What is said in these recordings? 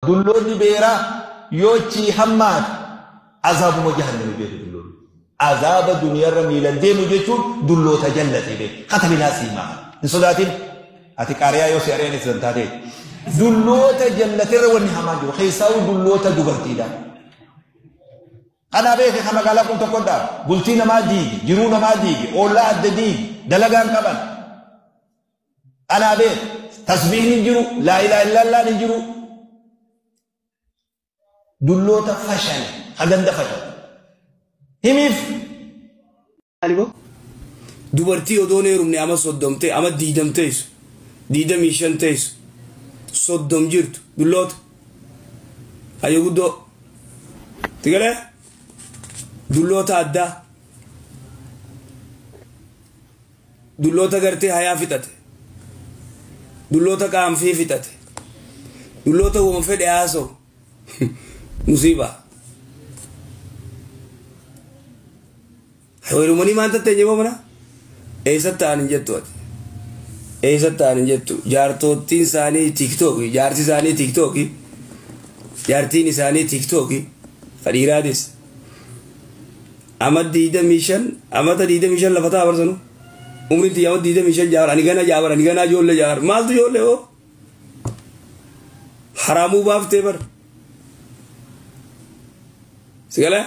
Dulloonni beeraa yoo achii hammaate azaabuma jahannami beeku dulloonni. Azaaba duniyarra miilan deemu jechuun dulloota jallate beeku. Katabilaa siimaa. Hin sodaatin. Ati qaariyaa yoo si ari'an itti zantaatee. Dulloota jallaterra wanni hamaan jiru. Keessaawuu dulloota dubartiidha. Kanaa beeke kan magaalaa kun tokkodha. Bultii namaa diigi, jiruu namaa diigi, oollaa adda diigi, dalagaan qaban. Anaa bee tasbiihni hin jiru, laa ilaaha illaallaan hin jiru. Dulloota fashale, ha ganda fashale. Himiif. Dubartii odoon heerumne ama soddom ta'e, ama diidam ta'esu, diidamii shan ta'esu, soddom jirtu, dulloota. Hayyo guddoo. Tigalee? Dulloota addaa. dulloota gartee hayaa fixate dulloota qaanfii fixate dulloota waan fedhe haasoo musiibaa Heerumanii maal tattee jiboo mana? Eessa ta'an hin jettu ati? Eessa ta'an hin jettu? Jaartottiin isaanii tiiktooki, jaarsi isaanii tiiktooki, jaartiin isaanii tiiktooki, fadhiiraadis. Ama 25 amata 25 lafa ta'a barsanu. Umriin tiyya amata 25 ja'a bara ani gana ja'a bara ani gana ijoollee ja'a bara maaltu ijoollee hoo? Haraamuu baaftee bara. Sigala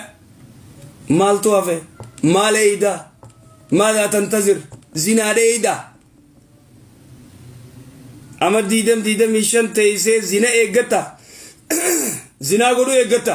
maaltu hafe maal eeyda maadaa tantazir zinaa dheeyda. Ama 20 25 teessee zina eeggata. Zinaa godhuu eeggata.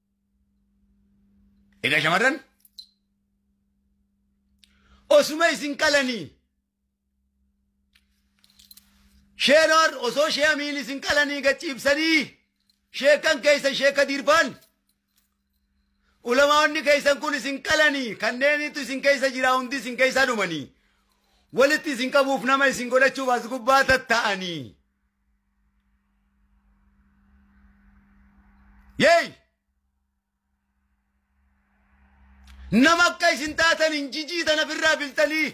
Egaa shamarran osuma isin qalanii sheenoor osoo shee amiin isin qalanii gachiibsanii sheekan keessan sheeka diirbaan ulamaa'onni keessan kun isin qalanii kanneenitu isin keessa jira hundi isin keessa dhumanii walitti isin qabuuf nama isin godhachuuf as gubbaa tatta'anii. Yeey! Nama akka isin taatan hin jijii tana firraa biltanii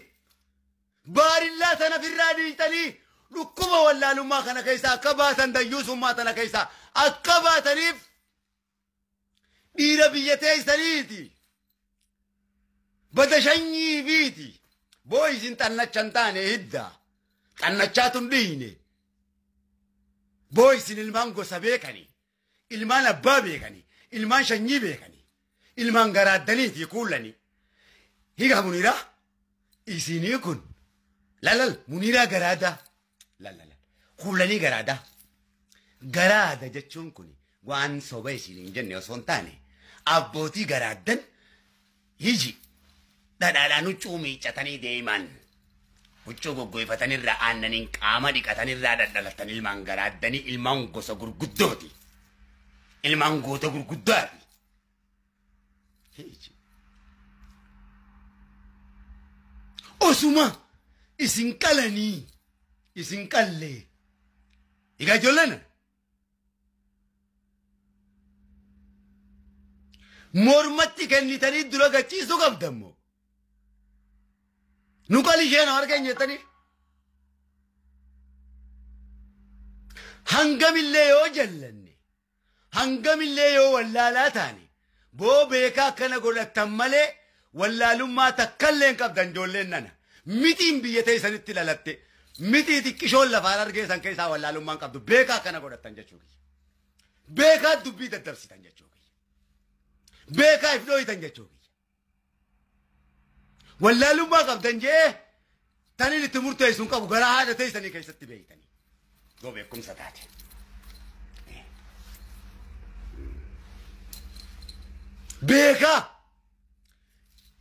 baarillaa tana firraa dhiitanii dhukkuba wallaalummaa kana keessaa akka baatan dayyuusummaa tana keessaa akka baataniif dhiira biyya teessaniiti bada shanyii biiti boo isin xannacha hin taane hidda xannachaatu hin dhiine boo isin ilmaan gosa beekani ilmaan abbaa beekani ilmaan shanyii beekani ilmaan garaaddaniiti kuullani higa muniraa isinii kun lalal muniraa garaadaa Lallala. Kuulanii garaada. Garaada jechuun kun waan soba isin hin jenne osoo hin taane abbootii garaaddan hiji dhadhaadhaan huccuu miiccatanii deeman. Huccuu goggoifatanirraa aannaniin qaama dhiqatanirraa dhadhalatan ilmaan garaaddanii ilmaan gosa gurguddooti. Ilmaan goota gurguddaati. Heeji. Osuma isin qalanii isin qallee egaa ijoolleen mormatti kennitanii dura gachiisuu qabdammoo nu qali ishee nu argan jettanii hangamillee yoo jallanne Hangamillee yoo wallaalaa taane boo beekaa akkana godhattan malee wallaalummaa takkallee hin qabdan ijoolleen nana. Mixiin biyya teessanitti lalatte mixii xiqqishoon lafaan argeessan keessaa wallaalummaa hin qabdu beekaa akkana godhattan jechuu kiyya. Beekaa dubbii daddabsitan jechuu kiyya. Beekaa if dhooytan jechuu kiyya. Wallaalummaa qabdan jee taniin itti murteessu hin qabu garaa haadha teessanii keessatti beektanii. Yoo beekumsa taate. Beekaa.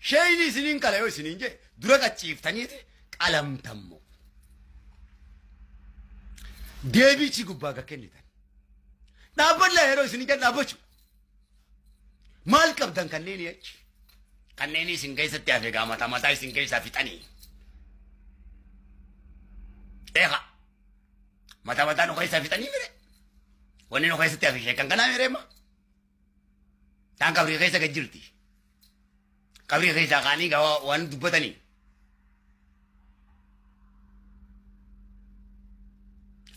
Sheeyni isiniin qala yoo isiniin jee dura qachiiftaniiti qalamtammoo. Deebiichi gubbaa akka kennitan. Dhaabbadhaa yeroo isiniin jedhu dhaabbachu. Maal qabdan kanneenii achi? Kanneenii isin keessatti hafe gaa mataa mataa isin keessaa fixanii. Eegaa mataa mataa nu keessaa fixanii mire. Wanni nu keessatti hafe sheekan kanaa mire ma. Taan qabrii keessa gad jirti. Qabrii keessaa kaanii gaa waa- waan dubbatanii.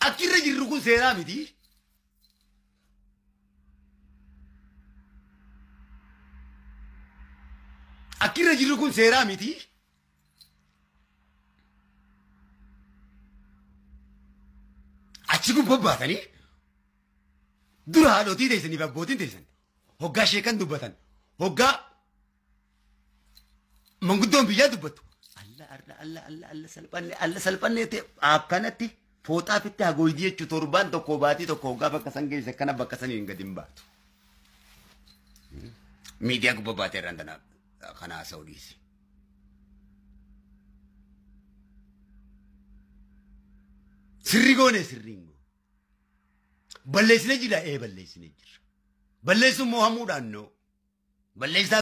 Akki irra jirru kun seeraa miti. Akki irra jirru kun seeraa miti. Achi kun bobbaatanii dura haadhotii teessanii fi abbootiin teessan hoggaa sheekan dubbatan hoggaa Manguddoon biyyaa dubbatu. Alla arra alla alla alla salphanne alla salphanne ta'e akkanatti fooxaa fitti hagooydi jechuu torbaan tokko baatii tokko hoggaa bakka san geesse akkana bakka san hin gadi hin baatu. Miidiyaa gubba baatee irraan tana kana haasa'u dhiisi. Sirri goone sirriin goone. Balleessine jira ee balleessine jira. Balleessuun moo hamuudhaan noo. Balleessaa